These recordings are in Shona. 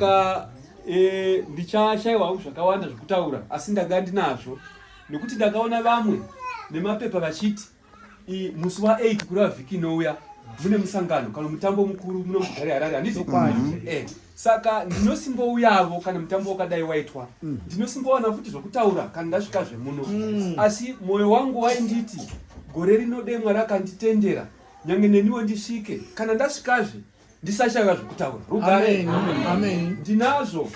ka e, ndichashaiwawo zvakawanda zvekutaura asi ndanga ndinazvo nekuti ndakaona vamwe nemapepa vachiti musi wa8 kureva vhiki inouya mune musangano kana mutambo mukuru muno mugari harare handizokwai mm -hmm. eh, saka ndinosimbouyavo kana mutambo wakadai waitwa mm. ndinosimbowana mm -hmm. futi zvokutaura kana ndasvika zvemuno mm. asi mwoyo wangu wainditi gore rino demwa rakanditendera nyange neniwo ndisvike kana ndasvikazve ndisashaiwa zvokutaura rugare ndinazvo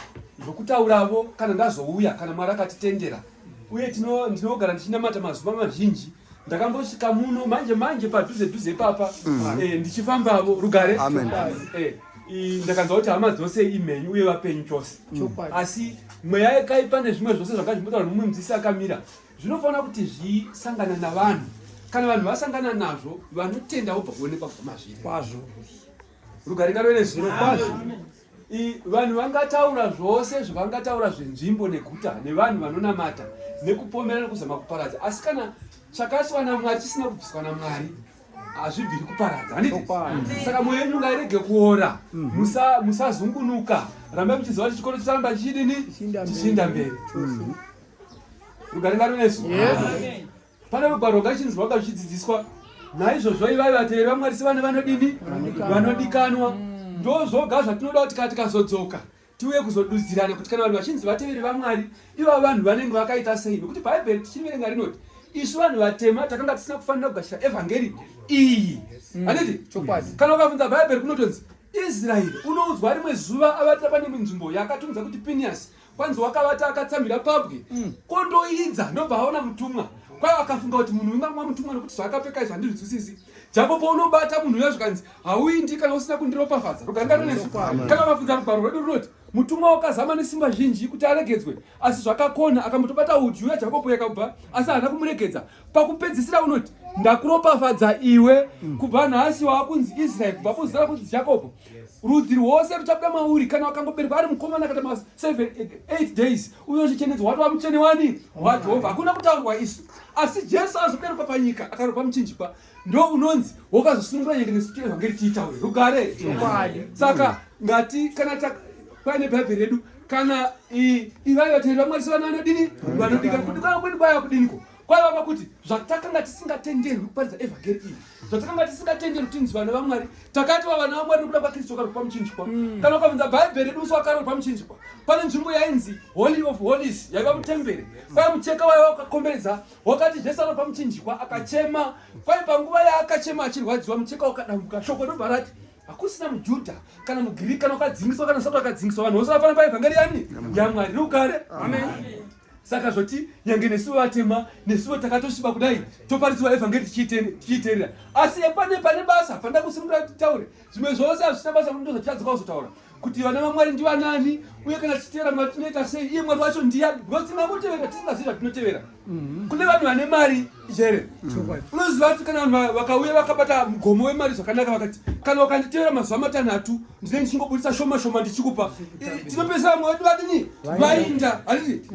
zvokutauravo kana ndazouya kana mwari akatitendera uye ndinogara ndichinamata mazuva mazhinji ndakambosvika muno manje manje padhuze dhuze ipapa mm. eh, ndichifambavo rugare eh, ndakanzwa kuti hama dzose imhenyu uye vapenyu chose mm. asi mweya yekaipa nezvimwe zvose zvakazvimbotaura mumwe mudzisi akamira zvinofanira kuti zvisangana navanhu kana vanhu vasangana nazvo vanotenda vobva kuonekwa kubva mazviri kwazvo rugare ngaro ine zviro kwazvo vanhu vangataura zvose zvavangataura zvenzvimbo neguta nevanhu vanonamata nekupomera nekuzama kuparadza asi kana chakaiswa namwari chisina kubviswa namwari hazvibviri kuparadza saka mwoyo yenyu ngairege kuora mhm. musazungunuka rambai muchiziva kuti chikoro chicharamba chichidini chichinda mberi mhm. rugare ngaro nesu pane rugwaro rwakachinzi rwanga ruchidzidziswa naizvozvo ivai vateveri vamwari sevane vanodini vanodikanwa ndo zvoga zvatinoda kuti kana tikazodzoka tiuye kuzodudzirana kuti kana vanhu vachinzi vateveri vamwari iva vanhu vanenge vakaita sei nokuti bhaibheri tichiriverenga rinoti isu vanhu vatema takanga tisina kufanira kugashira evhangeri iyi handiti kana ukabvunza bhaibheri kunotonzi israeri unoudzwa rimwe zuva avatira pane nzvimbo yakatunza kuti piniasi kwanzi wakavata akatsamira pabwe mm. kondoidza ndobva aona mutumwa kwayo akafunga kuti munhu wemamwa mutumwa nekuti zvaakapfeka izvi handizvizwisisi japo paunobata munhu uya zvikanzi hauindi kana usina kundiropafadza ruganga runesu kana vafudza rugwaro rwedu runoti mutumwa wakazama nesimba zhinji kuti aregedzwe asi zvakakona akambotobata udyu uya jakopo yakabva asi haana kumuregedza pakupedzisira unoti ndakuropafadza iwe mm. kubva nhasi waakunzi israeri kubva kuzara kunzi jakopo rudzi rwose ruchabuda mauri kana wakangoberwa ari mukomana kata ma 78 days uyo chichenedzwa watova mutsvene wani wajehovha hakuna kutaurwa isu asi jesu azoberekwa panyika akaropa muchinjikwa ndo unonzi wokazosunungura nyenge nesu tievhangeri tiitaure rugare saka ngati kana paine bhaibheri redu kana ivai vateerera mwari sevana vanodini vanodika kudikana kwedu kwaya kudiniko kwaiva pakuti zvatakanga tisingatenderwi kuparidza evhangeri iyi zvatakanga tisingatenderwi kuti tinzi vana vamwari takatova vana vamwari nokuda kwakristu akarwa pamuchinjikwa mm. kana ukabvunza bhaibheri redu musi wakarwa pamuchinjikwa pane nzvimbo yainzi holy of holies yaiva mutemberi kwai mucheka waiva wakakomberedza wakati zvese arwa pamuchinjikwa akachema kwai panguva yaakachema achirwadziwa mucheka wakadambuka shoko ndobva rati hakusina mujudha kana mugiriki kana wakadzingiswa kana usati wakadzingiswa vanhu vose vafana paevhangeri yani yamwari rukare amen, amen. saka zvoti nyange nesu vatema nesuvo takatosviba kudai toparidzirwa evhangeri tichiiterera asi pane pane basa panda kusimura titaure zvimwe zvose hazvisina basa kundo zvatitadzoka kuzotaura kuti vana vamwari ndivanani uye kana tichiteera mwari tinoita sei iye mwari wacho ndiya because tinamutevera tisingazivi zvatinotevera mhm. kune vanhu vane mari here chokwadi unoziva kuti kana vanhu vakauya vakabata mugomo wemari zvakanaka vakati kana ukanditevera mazuva matanhatu ndine ndichingobudisa shoma shoma ndichikupa tinopesa vamwe vedu vadini vainda handiti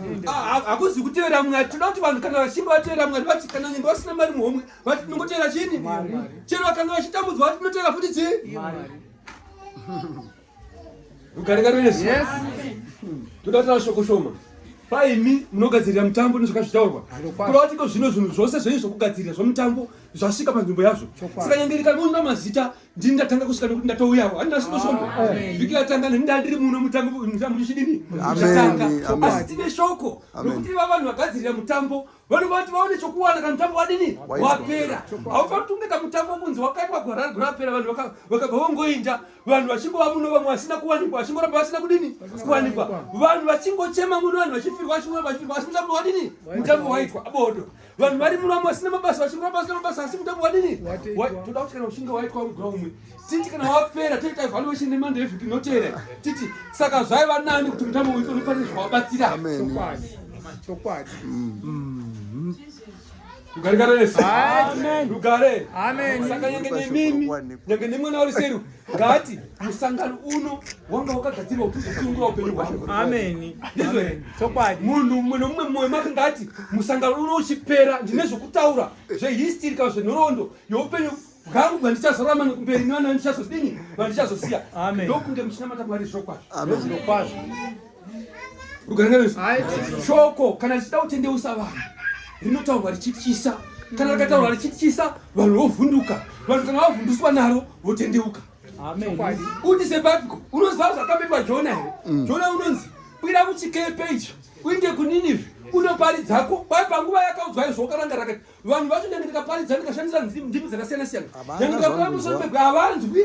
hakuzi kutevera mwari tinoda kuti vanhu kana vachinge vatevera mwari vati kana nyenge vasina mari muhomwe vati tinongotevera chini chero vakanga vachitambudzwa vati tinotevera futi chii Rugarika rwesu. Yes. Toda kutaura shoko shoma. Paimi munogadzirira mutambo nezvakazvitaurwa. Kurati ko zvino zvinhu zvose zvenyu zvokugadzirira zvomutambo zvasvika panzvimbo yazvo. Saka nyangerika rinoona mazita ndini ndatanga kusvika nekuti ndatouyawo. Handina shoko shoma. Vhiki ratanga neni ndandiri muno mutambo mutambo zvichidini? Zvatanga. Asi tine shoko rokuti iva vanhu vagadzirira mutambo vanhu vati vaone chokuwana kamutambo wadini wapera haufatunge kamutambo kunzi wakaitwa gwarari gurapera vanhu vakabva vongoinda vanhu vachingova muno vamwe vasina kuwanikwa vachingoramba vasina kudini kuwanikwa vanhu vachingochema muno vanhu vachifirwa vachingoramba vachifirwa asi mutambo wadini mutambo waitwa bodo vanhu vari muno vamwe vasina mabasa vachingoramba vasina mabasa asi mutambo wadini toda kuti kana uchinge waitwa mugwa umwe titi kana wapera toita evaluation nemande evhiki inoteere titi saka zvaiva nani kuti mutambo uyu unopane zvawabatsira chokwadi mm-hmm. ugarikaresu ugare saka nyange nemimi nyange nemwana wari seru ngati musangano uno wanga wakagadzirwa kuti uzosunungura upenyu hwangu ameni ndizvo here chokwadi munhu mumwe nomumwe mumwe make ngati musangano uno uchipera ndine zvokutaura zvehistirika zvenhoroondo youpenyu bwangu bwandichazorama nekumberi nevana vandichazodini vandichazosiya ndokunge muchinamata mwari zvirokwazvo rugarangavezvo shoko kana richida kutendeusa vanhu rinotaurwa richityisa kana rikataurwa richityisa vanhu vovhunduka vanhu kana vavhunduswa naro votendeuka uti sebabiko unoziva zvakapetwa jona here mm. jona unonzi kwira kuchikepe icho uinde kuninive unoparidzako kwai panguva yakaudzwa izvo ukaranga rakati vanhu vacho nyange ndikaparidza ndikashandisa ndimi dzakasiyana siyana nyange ndikakuya musoro pegwe havanzwi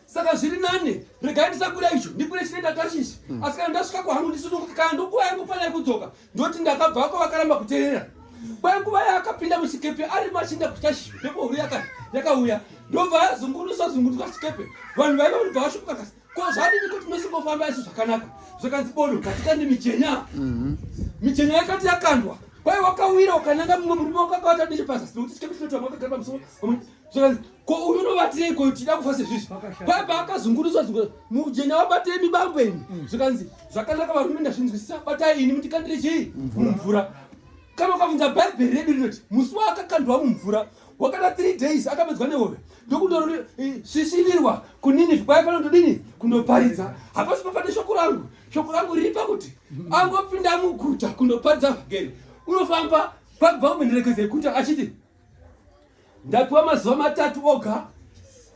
saka zviri nane regai ndisakura icho ndikure chine ndatashishi hmm. asi kana ndasvika kwangu ndisinokuti kana ndokuva yangu pana yekudzoka ndoti ndakabvako vakaramba kuteerera kwai nguva yaakapinda muchikepe ari machinda kutashishi mhepo huru yakauya ndobva yazungunusa zungunusa chikepe vanhu vaiva vanobva vashukuka kasi Ko zvadini kuti musingofamba isu zvakanaka zvakanzi bodo katika ndi michenya mhm. michenya yakati yakandwa kwaye wakawira ukananga mumwe murume wakakawata ndeshe pazasi nokuti chikati chinoita mwakagara pamusoro zvakanzi ko uyu unobatirei ko tida kufa sezvizvi kwaye paakazungurutswa zungu mujenya wabatei mibango imi mm. zvakanzi zvakanaka varume ndazvinzwisisa batai ini mutikandire chii mumvura kana ukabvunza bhaibheri redu rinoti musi waakakandwa mumvura wakada three days akapedzwa nehove ndokutorori eh, sisirirwa kunini kwaifanira kutodini kundoparidza hapasi papane shoko rangu shoko rangu riri pakuti angopinda muguta kundoparidza vhangeri unofamba kwakubva kumenderekedzo yekuta achiti ndapiwa mazuva matatu oga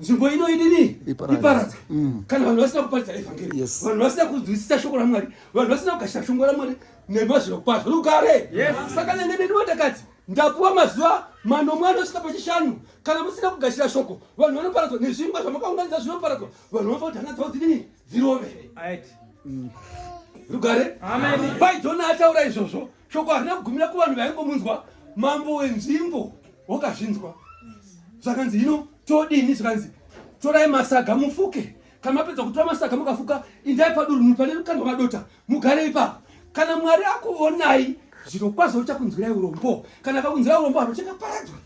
nzvimbo ino idini iparadzwe mm. kana vanhu vasina kuparidza evhangeri vanhu vasina kunzwisisa shoko ramwari vanhu vasina kugashira shoko ramwari nemazviro kwazvo rugare saka nene ndinodakadzi Ndapuwa mazuva manomwe anosvika pachishanu. Kana musina kugashira shoko, vanhu vanoparadzwa nezvingwa zvamakaunganidza zvinoparadzwa. Vanhu vanofa kuti hana dzavo dzidini? Dzirove. Mm. Rugare. Amen. Pai Jona ataura izvozvo. Shoko harina kugumira kuvanhu vaingomunzwa. Mambo wenzvimbo wakazvinzwa. Zvakanzi hino todini zvakanzi torai masaga mufuke kana mapedza kutora masaga mukafuka indai padurunhu pane lukandwa madota mugare ipapo kana mwari akuonai zviro kwazvo uchakunzwirai urombo kana akakunzwirai urombo vanhu vachakaparadzwa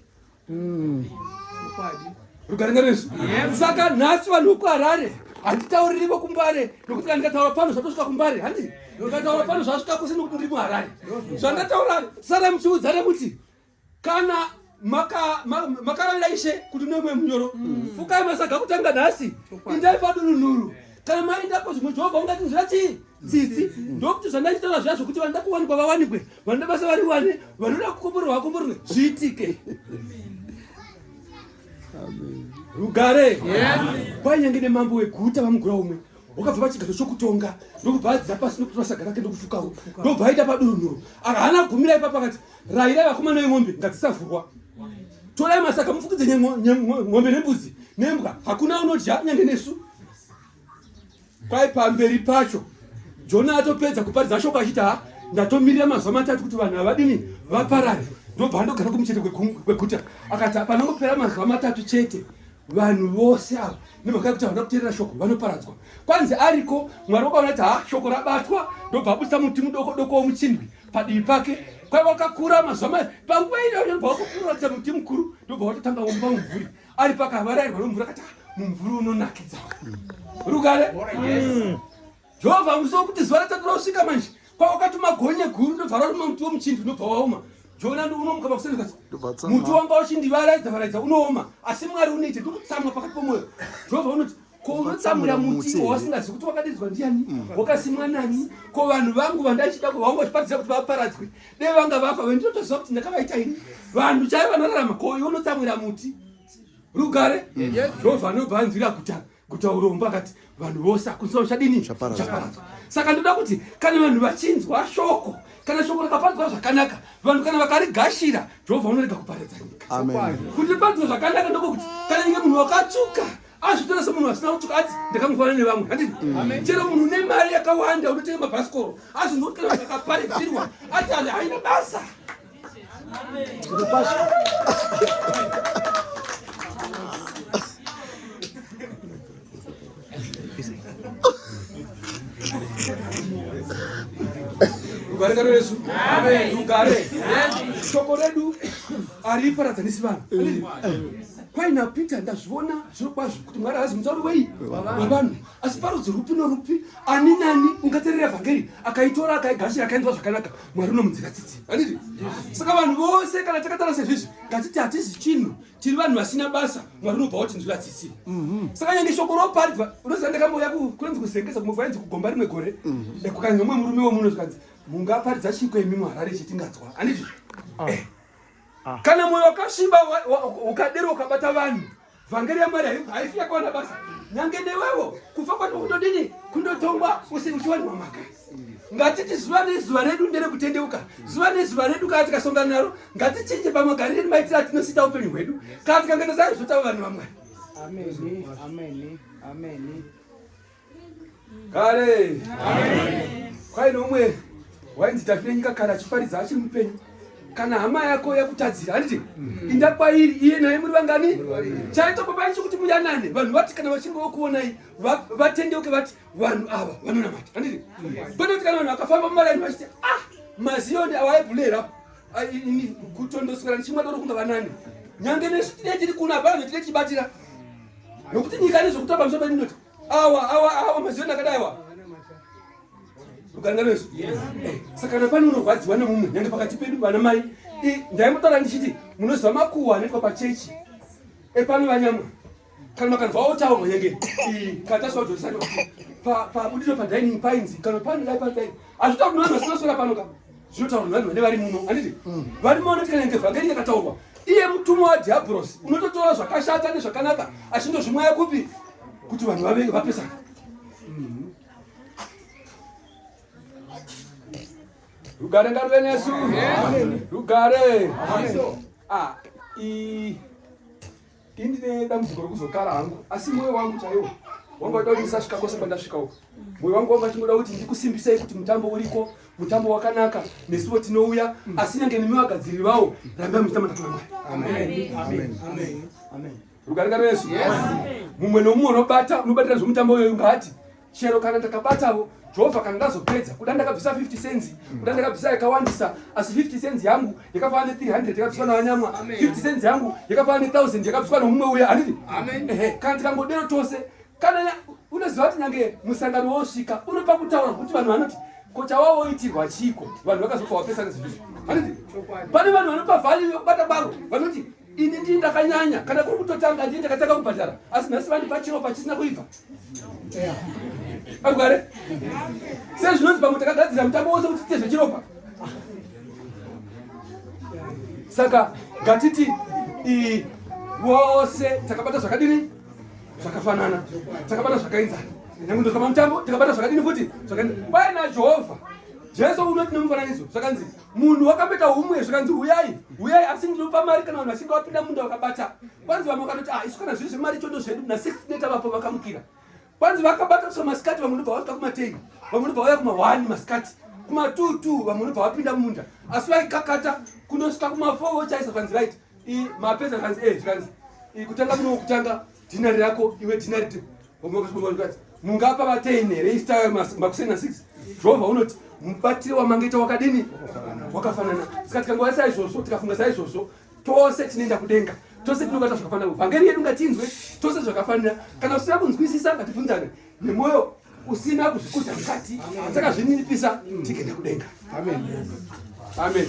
mm. rugare ngeresu saka nhasi vanhu vekuharare handitauriri vokumbare nokuti kana ndikataura pano zvatosvika kumbare handi ndikataura pano zvasvika kuse nokuti ndiri muharare zvandataura sarai muchiudzane kuti kana makaravira ishe kuti nomwe munyoro mm. fukai masaga kutanga nhasi indai padununuru eh. kana maindako zvimwe jehovha ungati nzira chii tsitsi mm. ndokuti zvandachitaura zviya zvokuti vanoda kuwanikwa vawanikwe vanoda basa variwane vanoda kukomborerwa vakomborerwe zviitike rugare kwainyange nemambo weguta vamugura umwe wakabva pachigaro chokutonga ndokubva adzira pasi nokuti vasagara ke ndokufukawo ndobva aita padununuro akahaana gumira ipapa akati Raira vakomana veng'ombe ngadzisavhurwa. Torai masaka mufukidze ng'ombe nembudzi nembwa. Hakuna unodya nyange nesu. Kwai pamberi pacho Jona atopedza kuparidza shoko achiti ha ndatomirira mazuva matatu kuti vanhu havadini vaparare ndobva andogara kumuchete kweguta akati panongopera mazuva matatu chete vanhu vose ava nemhaka yekuti havana kuteerera shoko vanoparadzwa kwanzi ariko mwari wakaona kuti ha shoko rabatwa ndobva abudisa muti mudoko doko womuchindwi padivi pake kwaiva wakakura mazuva mai panguva iyoyo ndobva wakukuratidza muti mukuru ndobva watotanga womba mumvuri ari pakavarairwa nomvura kati ah, mumvuri unonakidza rugare mm. jehovha musi wokuti zuva ratatu rausvika manje kwawakatuma gonye guru ndobva raruma muti womuchindu unobva waoma jona unomuka pakusendeka muti wanga uchindivaraidza varaidza unooma asi mwari unoite ndikutsamwa pakati pomwoyo jehovha unoti ko unotsamwira muti wausingazivi kuti wakadidzwa ndiani mm. wakasimwa nani ko vanhu vangu vandachida kuvaungotiparidza kuti vaparadzwe dei vanga vafa vendinotoziva kuti ndakavaita ini vanhu chai vanorarama ko iwe unotsamwira muti rugare mm. jehovha anobva anzwira kuta kuta urombo akati vanhu vose akunzwa uchadini chaparadzwa saka ndoda kuti kana vanhu vachinzwa shoko kana shoko rakaparadzwa zvakanaka vanhu kana vakarigashira jehovha unorega kuparadza nyika kutipadzwa zvakanaka ndokokuti kana inge munhu wakatsvuka azvitora semunhu asina kutuka ati ndakamufanana nevamwe handini mm. chero munhu une mari yakawanda unotenga mabhasikoro azonoti kana akaparidzirwa ati ali haina basa rugare ngaro yesu rugare shoko redu hariparadzanisi vanhu mm. kwaina peter ndazviona zvirokwazvo kuti mwari haazi mutauri wei wavanhu asi parudzi rupi norupi ani nani ungaterera evhangeri akaitora akaigashira akainzwa zvakanaka mwari unomunzira tsitsi anditi saka vanhu vose kana takatara sezvizvi ngatiti hatizi chinhu tiri vanhu vasina basa mwari unobva watinzwira tsitsi mhm. saka nyange shoko roparidzwa unoziva ndakambouya kunonzi kuzengesa kumwe kwainzi kugomba rimwe gore mhm. kukange umwe murume womuno zvikanzi mungaparidza chiko imi muharare chetinganzwa anditi ah. eh. Ah. Kana moyo wakasviba ukadero ukabata vanhu vhangeri yamwari haifi yakawana basa nyange newewo kufa kwati kutodini kundotongwa uchiwanirwa mhaka ngatiti zuva nezuva redu nderekutendeuka zuva nezuva redu kana tikasongana naro ngatichinje pamagarire maitira atinosita upenyu hwedu kana tikanganazari zvotava vanhu vamwari Amen. Amen. Amen. Kare. Amen. Kwaine umwe wainzi Davide nyika kana achiparidza achiri mupenyu. Kana hama yako yakutadzira handiti mm. inda kwairi iye naye muri vangani chaita baba icho kuti muyanane vanhu vati kana vachinge vokuonai vatendeuke vati vanhu ava vanonamata handiti kwete kuti kana vanhu vakafamba mumalaini vachiti ah maziyoni awaebhulera kutondoswera ndichimwa doro kunga vanani nyange nesu tine tiri kuno hapana zvetine tichibatira nokuti nyika nezvokutamba musoro pedu ndoti awa awa awa mazioni akadaiwa ukananga nesu saka napani unorwadziwa nemumwe nyange pakati pedu vana mai ndaimutaura ndichiti munoziva makuwa anoitwa pachechi epano vanyamwa kana makanzwawo taurwa nyange kataswajorisai pabudiro padining painzi kana pano dai pano dai azvitauri noanhu vasinaswera pano ka zvinotaurwa nevanhu vane vari muno handiti mm. vari muno vanoti kana ngevhangeri yakataurwa iye mutumwa wadhiabhurosi unototora zvakashata nezvakanaka achindozvimwaya kupi kuti vanhu vave vapesana mm-hmm. rugare ngaruve nesu rugare ah, Ini ndine dambudziko rekuzogara hangu asi moyo wangu chaiwo wanga wada kuti ndisasvika kwose kwandasvika uko. Moyo wangu wanga uchingoda kuti ndikusimbisei kuti mutambo uriko, mutambo wakanaka, nesuwo tinouya asi nyange nemi vagadziriri vawo rambai muchitamba naToramai. Amen. Amen. Amen. Amen. Rugarika rwesu. Yes. Mumwe nomumwe unobata unobatira zvomutambo uyoyu ngaati chero kana ndakabatavo jehova kana ndazopedza kuda ndakabvisa 50 cents mm. kuda ndakabvisa yakawandisa asi 50 cents yangu yakafanana ne300 yakabviswa navanyamwa 50 cents yangu yakafanana ne1000 yakabviswa nomumwe uya handiti ehe kana tikangodero tose kana unoziva kuti nyange musangano wosvika unopa kutaura kuti vanhu vanoti ko chawawoitirwa chiiko vanhu vakazofa wapesana zvinhu handiti pane vanhu vanopa vhari yokubata baro vanoti ini ndii ndakanyanya kana kuri kutotanga ndii ndakatanga kubhadhara asi nhasi vandipa chiro pachisina kuibva agware sei zvinonzi pamwe takagadzira mutambo wose kuti tiite zvechiropa saka ngatiti vose takabata zvakadini zvakafanana takabata zvakainzana nyange ndokama mutambo takabata zvakadini futi zvakainzana kwaye najehovha jesu unoti nemufananidzo zvakanzi munhu wakamboita humwe zvikanzi huyai huyai asi ndinopa mari kana vanhu vachinge vapinda munda vakabata kwanzi vamwe vakatoti ah isu kana zviri zvemari chondo zvedu na six neta vapo vakamukira kwanzi vakabata kusva masikati vamwe unobva vasvika kumateni vamwe unobva vauya kumahwani masikati kumatuu tuu vamwe unobva vapinda munda asi vaikakata kunosvika kumafo vochaisa zvanzi right mapedza zvanzi e eh, zvikanzi kutanga muno kutanga dhinari rako iwe dhinari mungapa vateini here istayo makuseni na 6 jehovha unoti mubatiro wamangaita wakadini wakafanana saka tikangova saizvozvo tikafunga saizvozvo tose tinoenda kudenga tose tinobata zvakafanira vhangeri yedu ngatinzwe tose zvakafanira kana usina kunzwisisa ngativhunzane nemwoyo usina kuzvikudza mukati takazvininipisa tigenda kudenga amen amen